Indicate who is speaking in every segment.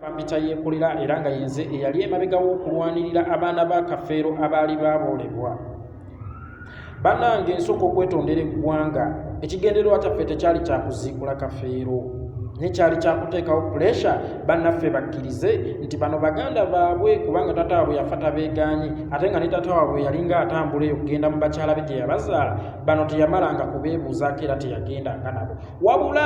Speaker 1: bampita yeekolera era nga yenze eyali emabega w'okulwanirira abaana ba kafeero abaali baaboolebwa bannange nsooka okwetondera eggwanga ekigendererwa kyaffe tekyali kyakuziikula kafeero naye kyali kyakuteekawo puresha bannaffe bakkirize nti bano baganda baabwe kubanga taata waabwe yafa tabeegaanyi ate nga ne taata waabwe yali nga atambula eyo kugenda mu bakyala be gye yabazaala bano teyamalanga kubeebuuzaako era teyagendanga nabo wabula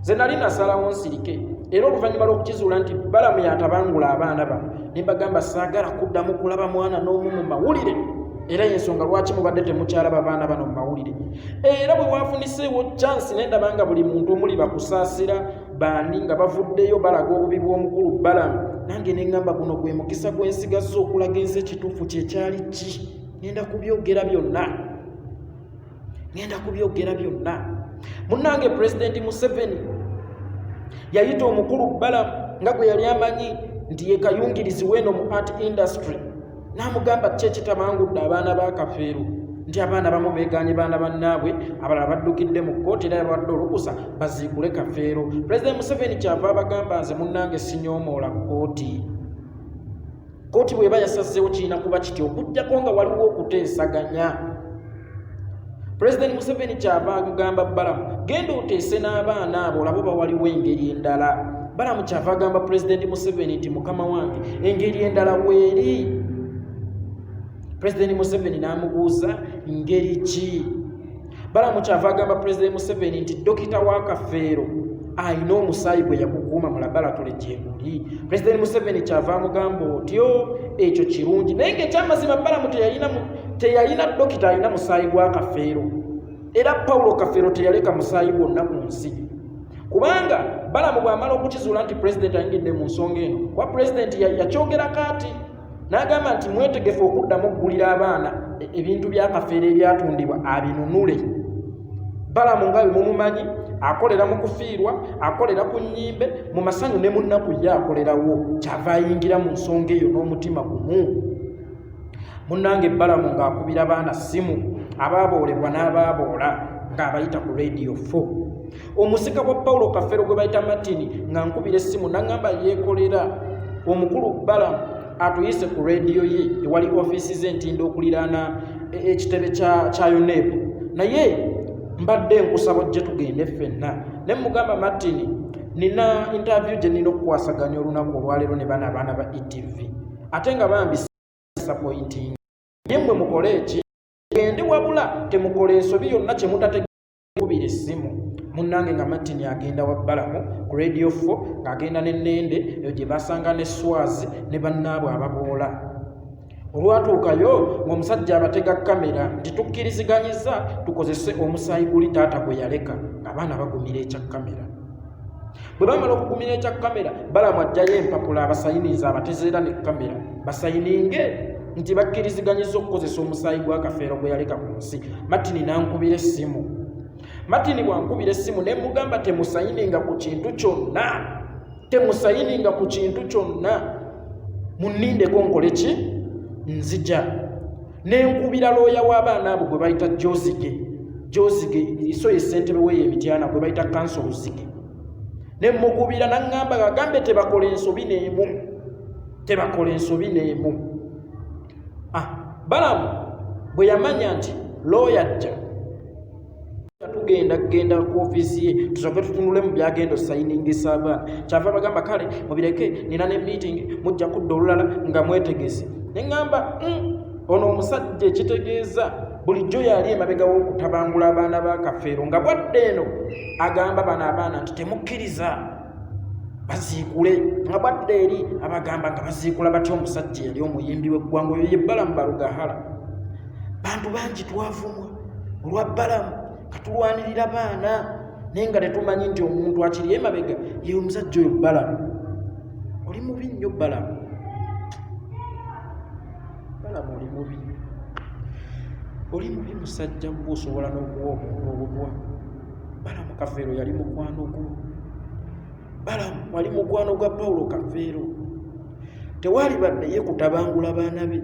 Speaker 1: nze nali nasalawo nsirike era oluvannyuma lw'okukizuula nti balamu yatabangula abaana bano ne mbagamba saagala kuddamu kulaba mwana n'omu mu mawulire era yensonga lwaki mubadde temukyalaba baana bano mu mawulire era bwe wafuniseewo chansi ne ndaba nga buli muntu omuli bakusaasira bandi nga bavuddeyo balaga obubi bw'omukulu balamu nange ne ŋŋamba guno gwe mukisa gwensigazza okulaga ensi ekituufu kyekyali ki nenda kubyogera byonna ngenda kubyogera byonna munnange pulezidenti museveni yayita omukulu balamu nga gwe yali amanyi nti ye kayungirizi weeno mu art industry n'amugamba ki ekitamangudde abaana ba kafeero nti abaana bamu beeganye baana bannaabwe abalala baddukidde mu kkooti era yabawadde olukusa baziikule kafeero pulezidenti museveni kyava abagamba nze munnange sinyoomoola kkooti kkooti bweba yasazzeewo kirina kuba kiti okujjako nga waliwo okuteesaganya pulezidenti museveni kyava agamba balamu genda oteese n'abaana abo olabo bawaliwo engeri endala balamu kyava agamba pulezidenti museveni nti mukama wange engeri endala weeri pulezidenti museveni n'amubuuza ngeri ki balamu kyava agamba pulezidenti museveni nti dokita wa kafeero alina omusaayi gwe yakukuuma mu labalatole gyeguli pulezidenti museveni kyava amugamba otyo ekyo kirungi naye ngaekyamazima balamu teyalina dokita alina musaayi gwa kafeero era pawulo kafeero teyaleka musaayi gwonna ku nsi kubanga balamu bwamala okukizuula nti pulezidenti ayingidde mu nsonga eno kuba pulezidenti yakyogera kaati n'agamba nti mwetegefu okuddamu okugulira abaana e-, ebintu byakafeera ebyatundibwa abinunule balamu nga bwe mumumanyi akolera mu kufiirwa akolera ku nnyimbe mu masanyu ne mu nnaku ye akolerawo kyava ayingira mu nsonga eyo n'omutima gumu munnange balamu ng'akubira baana ssimu abaaboolebwa n'abaaboola ng'abayita ku radiyo 4 omusika wa pawulo kafero gwe bayita martini nga nkubira essimu naŋŋamba yeekolera omukulu balamu atuyise ku rediyo ye ewali ofiisi ze ntinda okuliraana e, ekitebe kya uneb naye mbadde nkusaba ojje tugende ffenna ne mugamba martini nina intavyu gye nina okukwasaganya olunaku olwaleero ne bana abaana ba etv ate nga bambi sapointing naye mwe mukole eki gende wabula temukola ensobi yonna kyemutate kubira essimu munnange nga martin agenda wa balamu ku radio fo ng'agenda ne nende eyo gye basanga ne swazi ne bannaabwe ababoola olwatuukayo ng'omusajja abatega kamera nti tukkiriziganyiza tukozese omusaayi guli taata gwe yaleka ng'abaana bagumira ekya kamera bwe bamala okugumira ekya kamera balamu ajjayo empapula abasayiniza abatezeera ne kamera basayininge nti bakkiriziganyiza okukozesa omusaayi gw'akafeero gwe yaleka ku nsi matini n'ankubira essimu matini bwankubira essimu ne mugamba temusayininga ku kintu kyonna temusayininga ku kintu kyonna munnindeko nkole ki nzija nenkubira looya w'abaana abo gwe bayita jozige jozige iso ye ssentebe weyo emityana gwe bayita kanso luzige ne mukubira naŋŋamba gagambe tebakola ensobi neemu tebakola ensobi neemu ah, balamu bwe yamanya nti looya jja tugenda kugenda ku ofiisi ye tusooke tutunule mu byagenda osayiningisa abaana kyava bagamba kale mubireke nina ne meeting mujja kudda olulala nga mwetegese ne ŋŋamba hmm, ono omusajja ekitegeeza bulijjo yali emabega w'okutabangula abaana ba kafeero nga bwadde eno agamba bano abaana nti temukkiriza baziikule nga bwadde eri abagamba nga baziikula batya omusajja yali omuyimbi w'eggwanga oyo yebbala mu balugahala bantu bangi twavumwa olwa balamu katulwanirira baana naye nga tetumanyi nti omuntu akiri emabega ye omusajja oyo balamu oli mubi nnyo balamu balamu oli mubi oli mubi musajja gwe osobola n'okuwa omuntu obutwa balamu kafeero yali mukwano gwo balamu wali mukwano gwa pawulo kafeero tewaali badde ye kutabangula baana be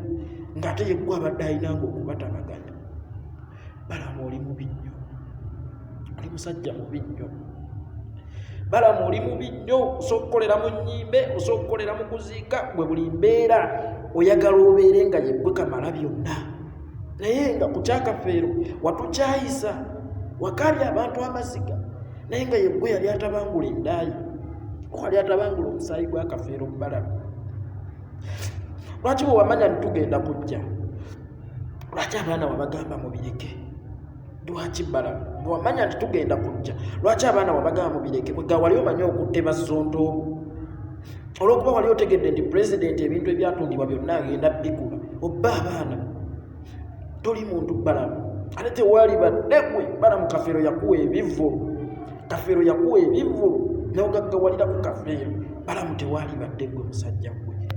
Speaker 1: ng'ate yeggwa abadde ayinanga okubatabaganya balaba oli mubi nnyo oli musajja mubi nnyo balaba oli mubi nnyo osobola okukolera mu nnyimbe osobola okukolera mu kuziika gwe buli mbeera oyagala obeere nga yeggwe kamala byonna naye nga ku kyakafeero watukyayisa wakaali abantu amaziga naye nga yeggwe yali atabangula endaayi wali atabangula omusaayi gwakafeero mubalamu lwaki bwewamanya nitugenda kujja lwaki abaana wabagamba mubireke lwaki bala wamanya nti tugenda kujja lwaki abaana wabagamba mubireke kwega wali omanyi okutte bazonto olwokuba wali otegedde nti pulezidenti ebintu ebyatundibwa byonna agenda bikula obba abaana toli muntu balamu ate tewali baddegwe balamu kafeero yakuwa ebivulu kafeero yakuwa ebivulu nogaggawalira ku kafeero balamu tewali baddegwe musajja gwe